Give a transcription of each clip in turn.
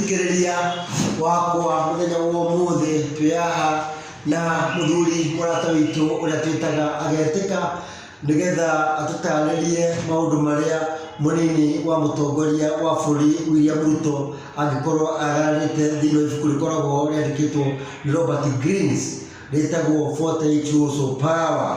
mũthikĩrĩria wakwa mũthenya wa ũmũthĩ twĩ haha na mũthuri mũrata witũ ũrĩa twĩtaga agetĩka nĩgetha atũtarĩrie maũndũ marĩa mũnini wa mũtongoria wa bũrũri William Ruto angĩkorwo agararĩte thĩinĩ wa ibuku rĩkoragwo rĩandĩkĩtwo nĩ Robert Greens rĩtagwo 40 Years of Power.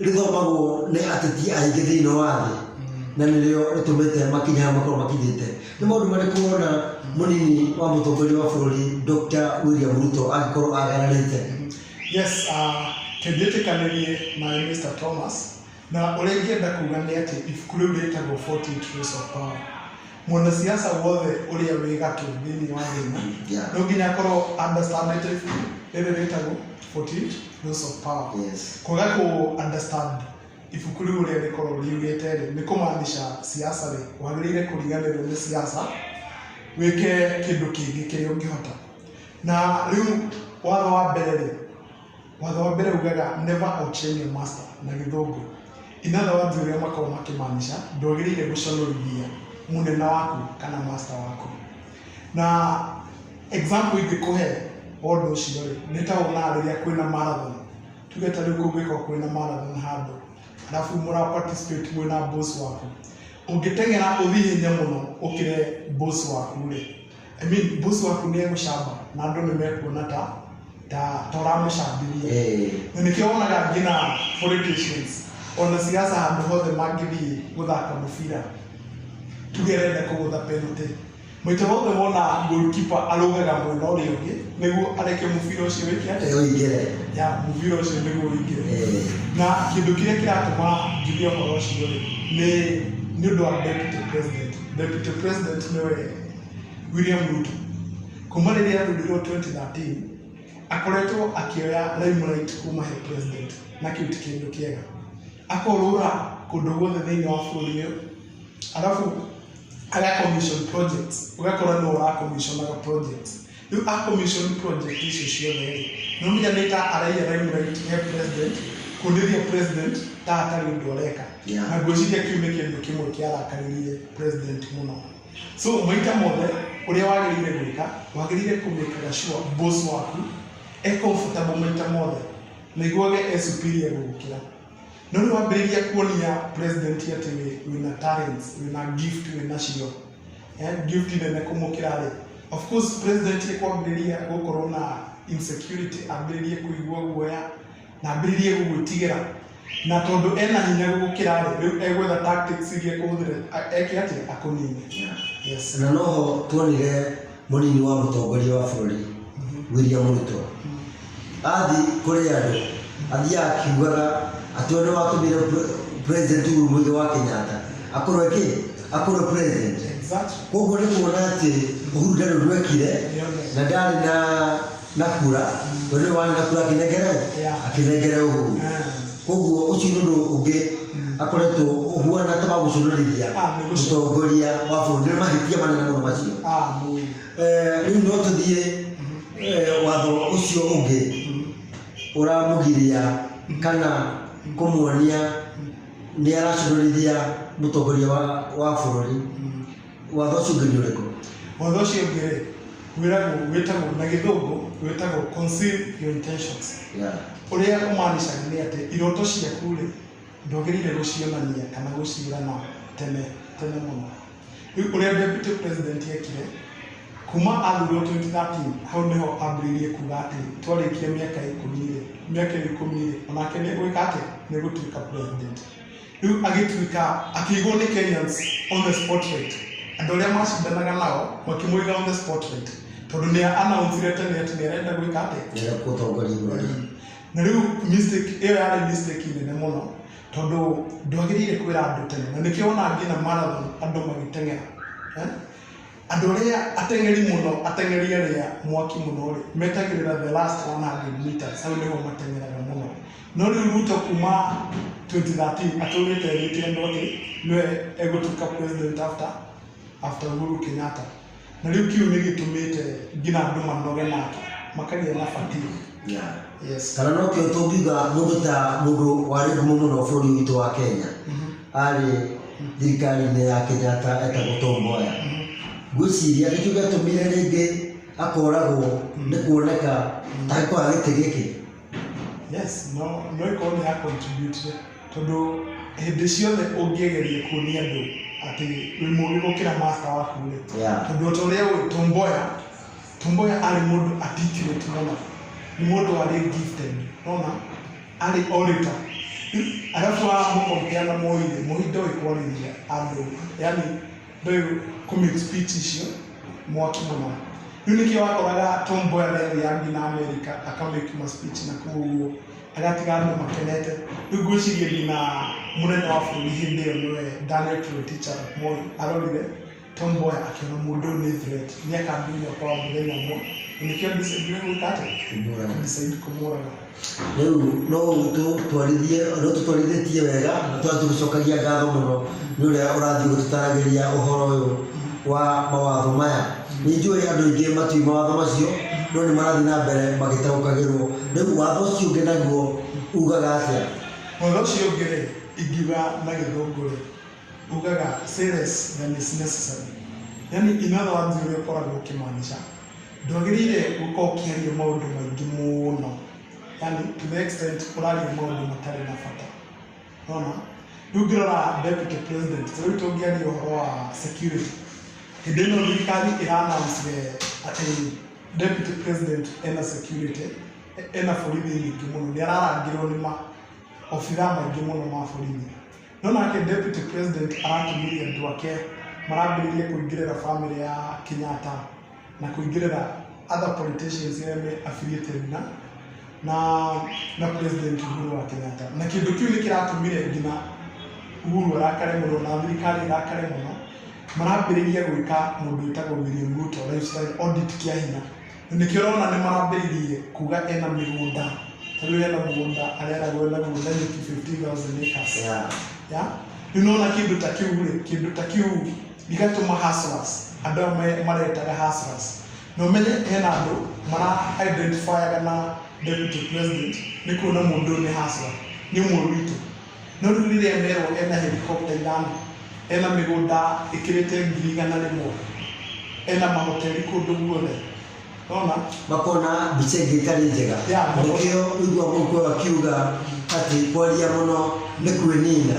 rĩthomagwo nĩ ateti aingĩ thĩinĩ wa thĩ na nĩrĩo rĩtũmĩte makinya haya makorwo makinyĩte nĩ maũndũ marĩkũ wona mũnini wa mũtongoria wa bũrũri Dr. William Ruto angĩkorwo agananĩte Yes, uh, tũngĩtĩkanĩrie na Mr. Thomas na ũrĩa ingĩenda kuga nĩ atĩ ibuku rĩu rĩtagwo 48 Laws of Power. Mwanasiasa wothe ũrĩa wĩ gatũ thĩinĩ wa thĩ ĩno Yeah. no nginya akorwo understandĩte ibuku rĩrĩ rĩtagwo 48 Laws of Power. Yes. Kwaga kũ understand ibuku rĩu ũrĩa rĩkorwo riugĩte rĩ nĩ kũmaanisha siasa rĩ wagĩrĩire kũriganĩrwo nĩ siasa wĩke kĩndũ kĩngĩ kĩrĩa ũngĩhota. Na rĩu watho wa mbere rĩ Watho wa mbere ugaga never outshine your master na gĩthũngũ. In other words ũrĩa makoragwo makĩmaanisha ndwagĩrĩire gũconorithia mũnene waku kana master waku. Na example ingĩkũhe wa ũndũ ũcio rĩ, nĩ ta wonaga rĩrĩa kwĩna marathon. Tuge ta rĩu kũngĩkorwo kwĩna marathon handũ, arabu mũra participate mwĩ na boss waku. Ũngĩteng'era ũthiĩ ihenya mũno ũkĩre boss waku rĩ, I mean, boss waku nĩ egũcamba na andũ nĩ mekuona ta ta ta ũramũcambĩria Eh. na nĩkĩo wonaga nginya politicians ona siasa handũ hothe mangĩthiĩ gũthaka mũbira tuge renda kũgũtha penalty maita mothe wona goalkeeper arũgaga mwena ũrĩa ũngĩ nĩguo areke mũbira ũcio wĩke atĩa Eo igere. ya mũbira ũcio nĩguo ũingĩre Eh. na kĩndũ kĩrĩa kĩratũma njuge ũhoro ũcio rĩ nĩ nĩ ũndũ wa deputy president deputy president nĩwe William Ruto kuma rĩrĩa athurĩrwo 2013 akoretwo akĩoya limelight kuma he president na kĩu ti kĩndũ kĩega akorũra kũndũ guothe thĩinĩ wa bũrũri ũyũ arabu aga commission projects ũgakora nĩ ũra commissionaga projects rĩu a commission project icio ciothe rĩ nĩ ũmenya nĩ ta araiya limelight he president kũndĩria president ta atarĩ ũndũ areka Yeah. na ngwĩciria kĩu nĩ kĩndũ kĩmwe kĩarakaririe president mũno so maita mothe ũrĩa wagĩrĩire gwĩka wagĩrĩire kũmĩkaga sure boss waku e comfortable maita mothe na iguage e superior gũgũkĩra no rĩu wambĩrĩria kuonia president atĩ wĩ- wĩna talents wĩna gift wĩna cio eh, gift nene kũmũkĩra rĩ of course president kwambĩrĩria gũkorwo na insecurity ambĩrĩrie kũigua guoya na ambĩrĩrie gũgwĩtigĩra na tondũ ena hinya gũgũkĩra rĩ rĩu egwetha tactics iria ekũhũthĩra a- eke atĩa akũnine yes na noho tuonire mũnini wa mũtongoria wa bũrũri William Ruto athi kũrĩ andũ athiaga akiugaga atĩ ũrĩa watũmire pre- president Uhuru Mũigai wa Kenyatta akorwo kĩ akorwo president exactly koguo nĩ kuona atĩ Uhuru ndarĩ ũndũ ekire na ndarĩ na nakura wene wa nakura akinengere akinengere uhuru koguo ucio ni undu ungi akoretwo uhuana ta magucunurithia mutongoria wa bururi ni mahitia manene muno macio Eh, riu no tuthie eh, watho ucio ungi uramugiria kana kumuonia ni aracunurithia mutongoria wa wa bururi Watho ũcio ũngĩ nĩ ũrĩkũ? Watho ũcio ũngĩ rĩ, wĩragwo wĩtagwo na gĩthũngũ wĩtagwo conceal your intentions. Yeah. Ũrĩa ũmanicaga nĩ atĩ iroto ciaku rĩ, ndwagĩrĩire gũcionania kana gũciĩrana tene tene mũno. Rĩu ũrĩa deputy president ekire, kuma athurwo 2013 hau nĩho ambĩrĩirie kuga atĩ twarĩkia mĩaka ikũmi rĩ, mĩaka ĩyo ikũmi rĩ, onake nĩ gwĩka atĩ nĩ gũtuĩka president. rĩu agĩtuĩka akĩigwo nĩ Kenyans on the spotlight andũ arĩa macindanaga nao makĩmũiga on the spotlight tondũ nĩ announceire tene atĩ nĩ arenda gwĩka atĩa Nĩgetha gũtongoria bũrũri. na rĩu mistake ĩyo yarĩ mistake nene mũno tondũ ndwagĩrĩire kwĩra andũ tene na nĩkĩo wona nginya marathon andũ magĩteng'era eh? Andũ arĩa ateng'eri mũno, ateng'eri arĩa mwaki mũno rĩ, metagĩrĩra the last 100 meters, hau nĩho mateng'eraga mũno. No rĩu Ruto kuma 2013 atũrĩte erĩte andũ atĩ nĩwe egũtuĩka president after after Uhuru Kenyatta. Na rĩu kĩu nĩ gĩtũmĩte nginya andũ manoge nake, makagĩa na fatigue. Yeah. Yes. kana no kĩo tũngiuga mũndũ ta mũndũ warĩ ngumo mũno bũrũri witũ wa kenya arĩ thirikari-inĩ ya Kenyatta etagwo Tom Mboya. Ngwĩciria nĩkĩo gĩatũmire rĩngĩ akoragwo nĩ kuoneka ta kwa gĩtĩ gĩkĩ. Yes, no no ikorwo nĩ ya contribute tondũ hĩndĩ ciothe ũngĩgeria kuonia andũ atĩ wĩ mũũgĩ gũkĩra master waku rĩ Yeah. tondũ o ta ũrĩa ũĩ Tom Mboya Tom Mboya arĩ mũndũ articulate mũno nĩ mũndũ warĩ gifted nona arĩ o rĩka arabu mũkompea na moi rĩ moi ndoĩ kwarĩria andũ yani ndoĩ kumit speech icio mwaki mũno rĩu nĩkĩo wakoraga Tom Mboya nĩathiĩ athiĩ na Amerika akamake ma speech na kũu ũguo agatiga andũ makenete rĩu ngwĩciria nginya mũnene wa bũrũri hĩndĩ ĩyo nĩwe Daniel Toroitich arap Moi arorire Tom Boy akiona mundu ni threat ni akambinya kwa muthenya umwe nikio decide gwika ati Kumũraga. decide kumuraga rĩu no tũtwarithie no tũtwarithĩtie wega na twathiĩ gũcokagia ngatho mũno nĩ ũrĩa ũrathiĩ gũtũtaragĩria ũhoro ũyũ wa mawatho maya nĩ njũĩ andũ aingĩ matiũĩ mawatho macio no nĩ marathiĩ na mbere magĩtaũkagĩrwo rĩu watho ũcio ũngĩ naguo ugaga atĩa Ũhoro ũcio ũngĩ rĩ, ingiuga na gĩthũngũ rĩ, Ugaga say less than is necessary. Yani in other words ũrĩa ũkoragwo ũkĩmaanisha ndwagĩrĩire gũkorwo ũkĩaria maũndũ maingĩ mũno yani to the extent ũraria maũndũ matarĩ na bata nona rĩu ngĩrora deputy president ta rĩu tũngĩaria ũhoro wa security hĩndĩ ĩno thirikari ĩranouncire atĩ deputy president ena security ena borithi nyingĩ mũno nĩ ararangĩrwo nĩ ma obitha maingĩ mũno ma borithi No nake Deputy President aratũmĩire andũ ake marambĩrĩirie kũingĩrĩra family ya Kenyatta na kũingĩrĩra other politicians arĩa me affiliated na na na President Uhuru wa Kenyatta na kĩndũ kĩu nĩ kĩratũmire nginya Uhuru arakare mũno na thirikari ĩrakare mũno marambĩrĩria gwĩka mũndũ wĩtagwo William Ruto lifestyle audit kĩa hinya Nĩkĩo ũrona nĩ mambĩrĩirie kuga ena mĩgũnda, ta rĩu ena mũgũnda areragwo ena mũgũnda nyeki 15,000 acres. Yeah. Yeah? Rĩu nona kĩndũ ta kĩu rĩ, kĩndũ ta kĩu gĩgatũma hustlers, andũ aya me- maretaga hustlers. Na ũmenye hena andũ mara identifyaga na deputy president nĩ kuona mũndũ ũyũ nĩ hustler, nĩ ũmwe witũ. No rĩu rĩrĩa merwo ena helicopter ithano, ena mĩgũnda ĩkĩrĩte ngiri igana rĩmwe, ena mahoteli kũndũ guothe, nona makona mbica ĩngĩ ĩtarĩ njega Ya, makona. nĩkĩo ũigua mũkwe akiuga atĩ kwaria mũno nĩ kwĩnina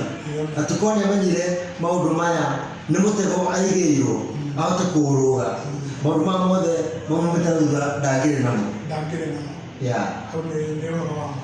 na tũkorwo nĩamenyire maũndũ maya nĩ mũtego aigĩirwo ahote kũũrũga maũndũ maya mothe mamumĩte thutha ndangĩrĩ namo ndangĩrĩ namo, ya hau nĩ nĩ ũhoro wa ma.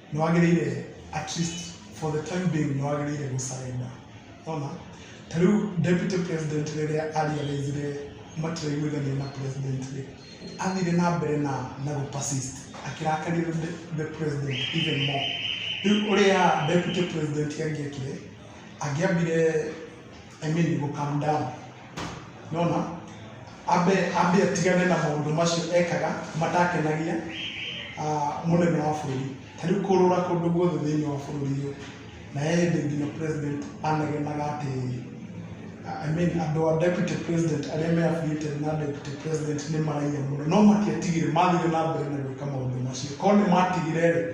nĩ wagĩrĩire at least for the time being nĩ wagĩrĩire gũ surrender ona ta rĩu deputy president rĩrĩa ariarĩire matiraiguithania na president rĩ athire na mbere na na gũ persist akĩrakarĩra the- the president even more rĩu ũrĩa deputy president angĩekire angĩambire I mean you will come down nona ambe ambe atigane na maundu macio ekaga matakenagia uh, munene wa bururi tariu kurura kundu guothe thiini wa bururi uyu na yende nginya president anegenaga ati I mean andå a deputy president arä a me affiliated na deputy president nä maraia må no no matiatigire mathire na mbere na gwä ka maå ndå macio korwo nä matigire rä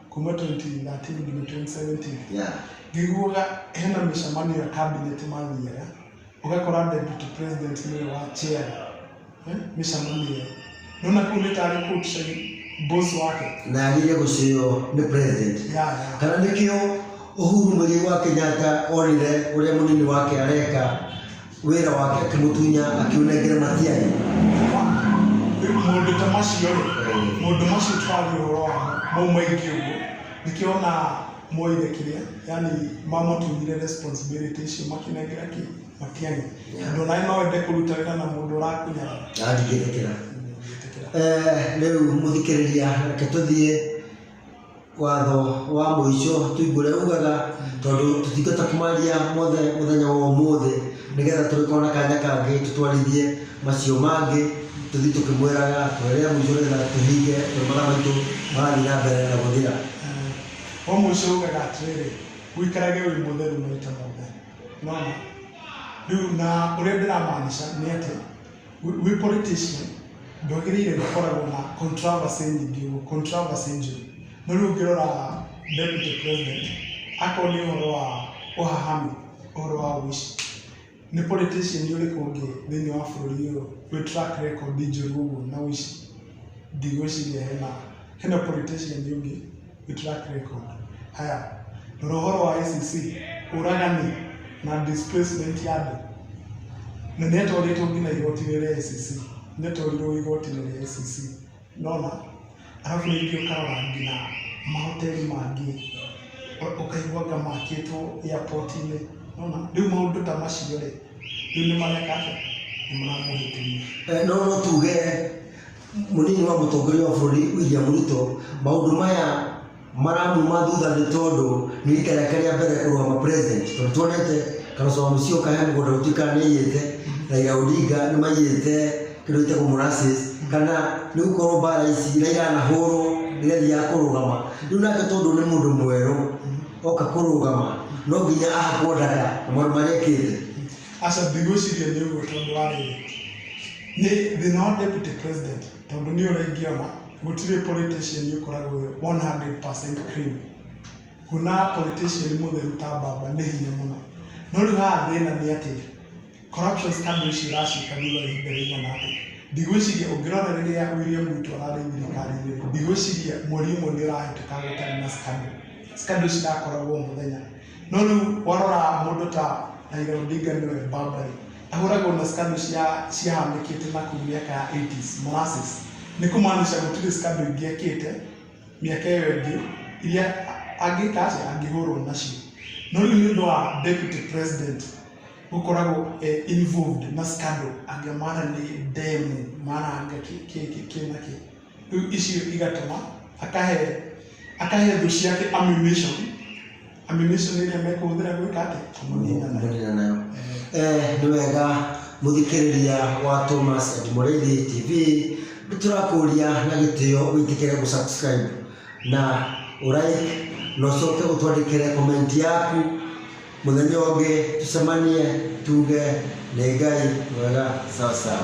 kuma 2013 nginya 2017 yeah. ngĩguaga hena mĩcemanio ya cabinet mathiaga ũgakora deputy president nĩwe wa chair eh, mĩcemanio ĩyo nona kũu nĩ tarĩ kũu tuseme boss wake na agire gucio ni president Yeah, yeah. kana nikio uhuru muthii wa kenyatta onire uria munini wake areka Wĩra wake akĩmũtunya akiunengere matiari. Mũndũ ta macio rĩ, mũndũ macio tũrathi ũhoro wa mau maingĩ ũguo, nĩkĩo ona moire kĩrĩa, yani mamũtunyire responsibility icio makĩnengera kĩ matiani. Andũ naĩ no wende kũruta wĩra na mũndũ ũrakũnyara. Ndingĩtĩkĩra. Ndingĩtĩkĩra. Eh, rĩu mũthikĩrĩria reke tũthiĩ watho wa mũico tũimbũre ugaga tondũ tũtingĩhota kũmaria mothe mũthenya wa ũmũthĩ nĩgetha tũgĩkorwo na kanya kangĩ tũtwarithie macio mangĩ tũthiĩ tũkĩmwĩraga twerĩa mũico nĩgetha tũhinge mabataro maitũ marathiĩ na mbere na gũthira wa mũico ugaga atĩrĩrĩ ũikarage wĩ mũtheru maita mothe nona rĩu na ũrĩa ndĩramaanisha nĩ atĩ wĩ politician ndwagĩrĩire gũkoragwo na controversy nyingĩ ũguo, controversy njũru. No rĩu ũngĩrora deputy president, akorwo nĩ ũhoro wa ũhahami, ũhoro wa ũici, nĩ politician ũrĩkũ ũngĩ thĩinĩ wa bũrũri ũyũ wĩ track record njũru ũguo na ũici? Ndigwĩciria hena, hena politician ũngĩ. Ni track record. Haya, rora ũhoro wa ICC, ũragani na displacement ya andũ. Na nĩ atwarĩtwo nginya igoti-inĩ rĩa ICC, nĩ atwarirwo igoti-inĩ rĩa ICC. Nona, arabu rĩngĩ ũkarora nginya mahoteli mangĩ, ũ- ũkaigua anga makĩtwo airport-inĩ. Nona, rĩu maũndũ ta macio rĩ, rĩu nĩ mareka atĩa? Nĩ maramũhĩtĩria. Eh, no no tuge Mũnini wa mũtongoria wa bũrũri William Ruto, maũndũ maya maramuma thutha nĩ tondũ nĩ rita rĩake rĩa mbere kũrũgama president. Tondũ tuonete Kalonzo Musyoka he mũgũnda gũtuĩka nĩ aiyĩte, Raila Odinga nĩ maiyĩte kĩndũ gĩtagwo molasses, kana nĩ gũkorwo mbara ici iria iranahũrwo rĩrĩa athiaga kũrũgama. Rĩu nake tondũ nĩ mũndũ mwerũ oka kũrũgama, no nginya ahakwo ndaka na maũndũ marĩa ekĩte. Aca ndigwĩciria nĩ ũguo tondũ wa rĩrĩ, nĩ thĩna wa deputy president tondũ nĩ ũrĩa ingĩona gũtirĩ politician ũkoragwo wĩ 100% clean. Kuona politician mũtheru ta Mbamba nĩ hinya mũno. No rĩu haha thĩna nĩ atĩ corruption scandal ici ũraciĩka thutha wa ihinda rĩigana atĩa. Ndigwĩciria ũngĩrora rĩrĩa William Ruto ararĩ thirikari-inĩ rĩ, ndigwĩciria mweri ũmwe nĩ ũrahĩtũka gũtarĩ na scandal. Scandal cirakoragwo o mũthenya. no rĩu warora mũndũ ta Raila Odinga nĩwe Barbary ahũragwo na scandal cia ciahanĩkĩte na kũu mĩaka ya 80s molasses nĩ kũmaanisha gũtirĩ scandal ingĩ ekĩte mĩaka ĩyo ĩngĩ iria angĩka atĩa angĩhũrwo nacio no rĩu nĩ ũndũ wa deputy president gũkoragwo eh, involved na scandal angiamara nĩ demu maranga kĩ kĩ kĩ kĩ na kĩ rĩu icio igatũma akahe akahe thũ ciake ammunition ammunition ĩrĩa mekũhũthĩra gwĩka atĩ kũmũnina nayo Kũmũnina nayo. Eh, nĩ wega mũthikĩrĩria wa Thomas and Mũrĩithi TV nĩ tũrakũria na gĩtĩo wĩtĩkĩre gũsubscribe na ũraik na ũcoke ũtwandĩkĩre komenti yaku mũthenya ũngĩ tũcemanie tuge nĩ ngai mwega sawa sawa